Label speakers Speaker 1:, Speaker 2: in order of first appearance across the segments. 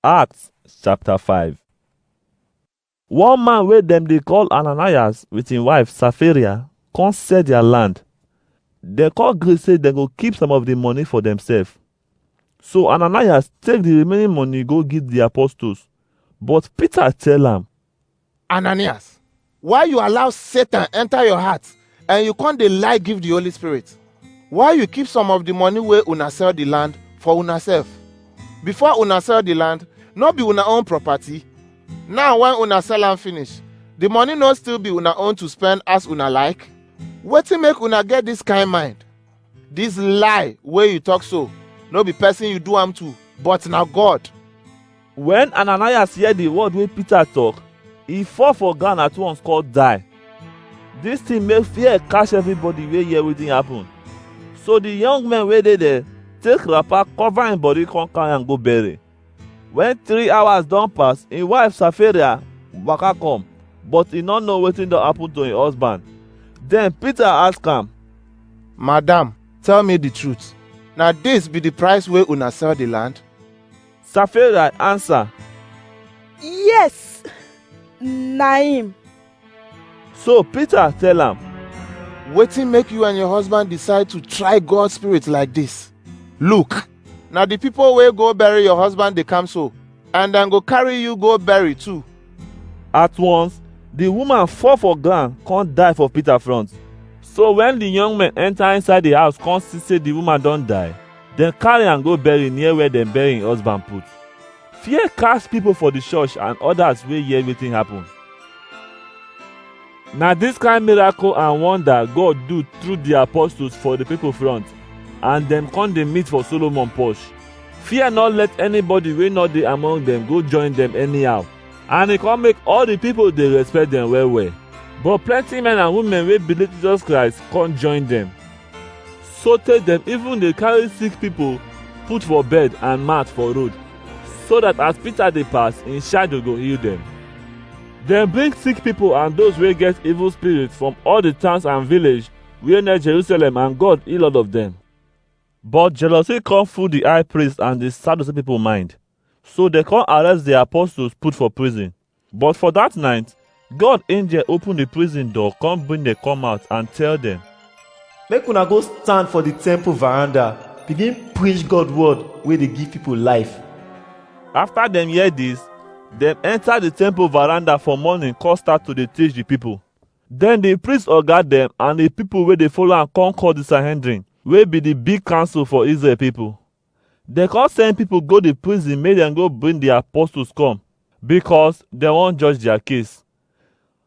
Speaker 1: Acts chapter 5 One man wey dem dey call Ananias with him wife Sapphira come sell their land. Dem come gree say dem go keep some of the money for themselves. So Ananias take the remaining money go give the apostles. But Peter tell am, Ananias, why you allow Satan enter your heart and you come dey lie give the Holy Spirit? Why you keep some of the money wey una sell the land for una sef? Before una sell the land, no be una own property. Now when una sell am finish, the money no still be una own to spend as una like? Wetin make una get this kind mind? This lie wey you talk so, no be person you do am to, but na God. When Ananias hear the word wey Peter talk, he fall for ground at once call die. This thing make fear catch everybody wey hear wetin happen. So the young men wey dey there take wrapper cover him body come carry am go bury. When three hours don pass, him wife Sapphira waka come, but he no know wetin don happen to him husband. Then Peter ask am, Madam, tell me the truth. Na this be the price wey una sell the land? Sapphira answer, Yes, na him. So Peter tell am, Wetin make you and your husband decide to try God's spirit like this? Look, na the people wey go bury your husband dey come so, and dem go carry you go bury too. At once, the woman fall for ground come die for Peter front. So when the young men enter inside the house come see say the woman don die, Dem carry am go bury near where dem bury im husband put. Fear cast people for the church and others wey hear wetin happen. Na this kind miracle and wonder God do through the apostles for the people front and dem come dey meet for Solomon porch. Fear not let anybody wey no dey among them go join them anyhow. And e come make all the people dey respect them well well. But plenty men and women wey believe Jesus Christ come join them. sotey dem even dey carry sick pipo put for bed and mat for road, so dat as Peter dey pass, im shadow go heal dem. Dem bring sick pipo and those wey get evil spirit from all di towns and village wey near Jerusalem and God heal all of dem. But jealousy come full di high priest and di Sadducee pipo mind, so dem come arrest di apostles put for prison. But for that night, God angel open the prison door, come bring them come out and tell them, Make una go stand for the temple veranda, begin preach God word wey dey give people life. After them hear this, them enter the temple veranda for morning, come start to dey teach the people. Then the priest oga them and the people wey dey follow am come call the Sanhedrin, wey be the big council for Israel people. Dem come send pipo go di prison make dem go bring di apostles come, because dem wan judge dia case.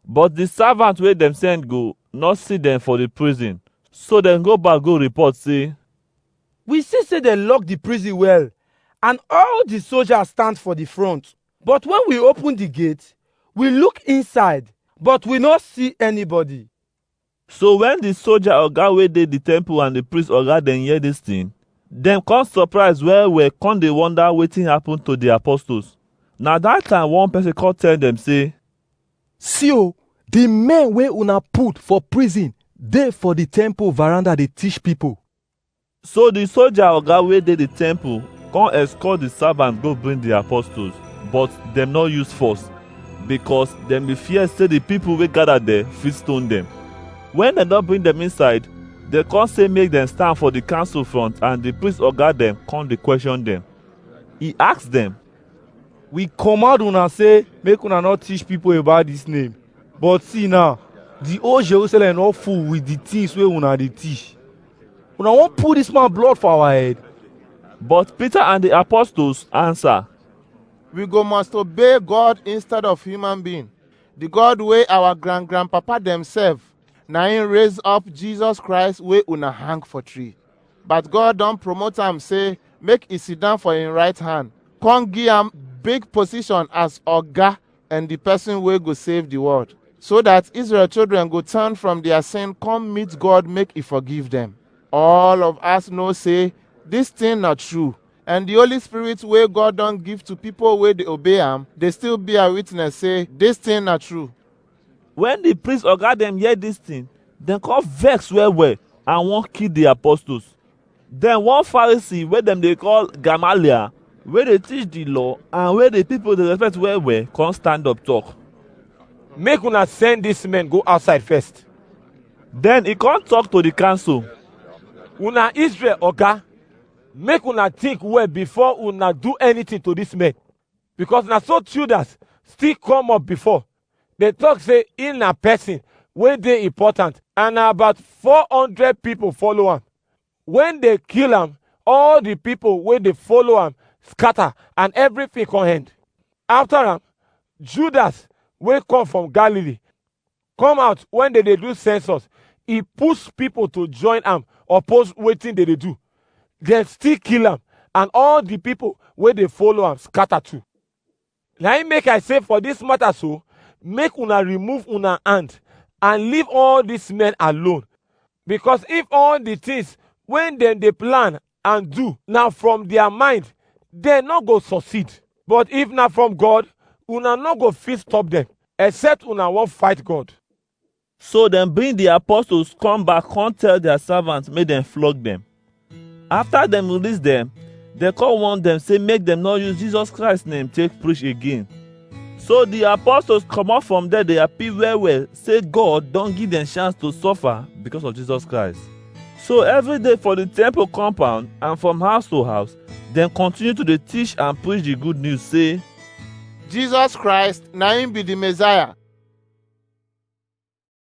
Speaker 1: But di servant wey dem send go no see dem for di prison, so dem go back go report sey, We see sey dem lock di prison well, and all di soldiers stand for di front. But wen we open di gate, we look inside, but we no see anybody. So wen di soja oga wey dey di temple and di priest oga dem hear dis tin, dem come surprise well well come dey wonder wetin happen to di apostles. Na dat time one person come tell dem say, See o, di men wey una put for prison dey for di temple veranda dey teach pipo. So the soldier oga wey dey the temple come escort the servant go bring the apostles, but dem no use force because dem dey fear say the people wey gather there fit stone dem. When dem don bring dem inside, dem come say make dem stand for the council front and the priest oga dem come dey question dem. He ask dem, We command una say make una no teach people about this name. But see now, the whole Jerusalem don full with the things wey una dey teach. Una wan put dis man blood for our head? But Peter and the apostles answer, We go must obey God instead of human being. The God wey our grand grandpapa dem serve, na him raise up Jesus Christ wey una hang for tree. But God don promote am say make e sit down for him right hand, come give am big position as oga and di pesin wey go save di world, so dat Israel children go turn from dia sin come meet God make e forgive dem. All of us know sey dis tin na true, and di Holy Spirit wey God don give to pipo wey dey obey am dey still bear witness sey dis tin na true. Wen di priest oga dem hear dis tin, dem come vex well-well and wan kill di apostles. Then one Pharisee wey dem dey call Gamaliel, wey dey teach the law and wey the people dey respect well well, come stand up talk. Make una send dis men go outside first. Then he come talk to the council. Una Israel oga, make una think well before una do anything to dis men. Because na so Teudas still come up before, dey talk say him na person wey dey important and na about 400 people follow am. When they kill am, all the people wey dey follow am scatter and everything come end. After am, Judas wey come from Galilee come out when they dey do census. He push people to join am oppose wetin they dey do. Dem still kill am and all the people wey dey follow am scatter too. Na im make I say for this matter so, make una remove una hand and leave all these men alone. Because if all the things when dem dey plan and do na from their mind, dem no go succeed. But if na from God, una no go fit stop them, except una wan fight God. So dem bring the apostles come back come tell their servants make dem flog them. After dem release them, dem come warn them say make dem no use Jesus Christ name take preach again. So the apostles comot from there dey happy well well say God don give dem chance to suffer because of Jesus Christ. So every day for the temple compound and from house to house, dem continue to dey teach and preach the good news say Jesus Christ na im be the Messiah.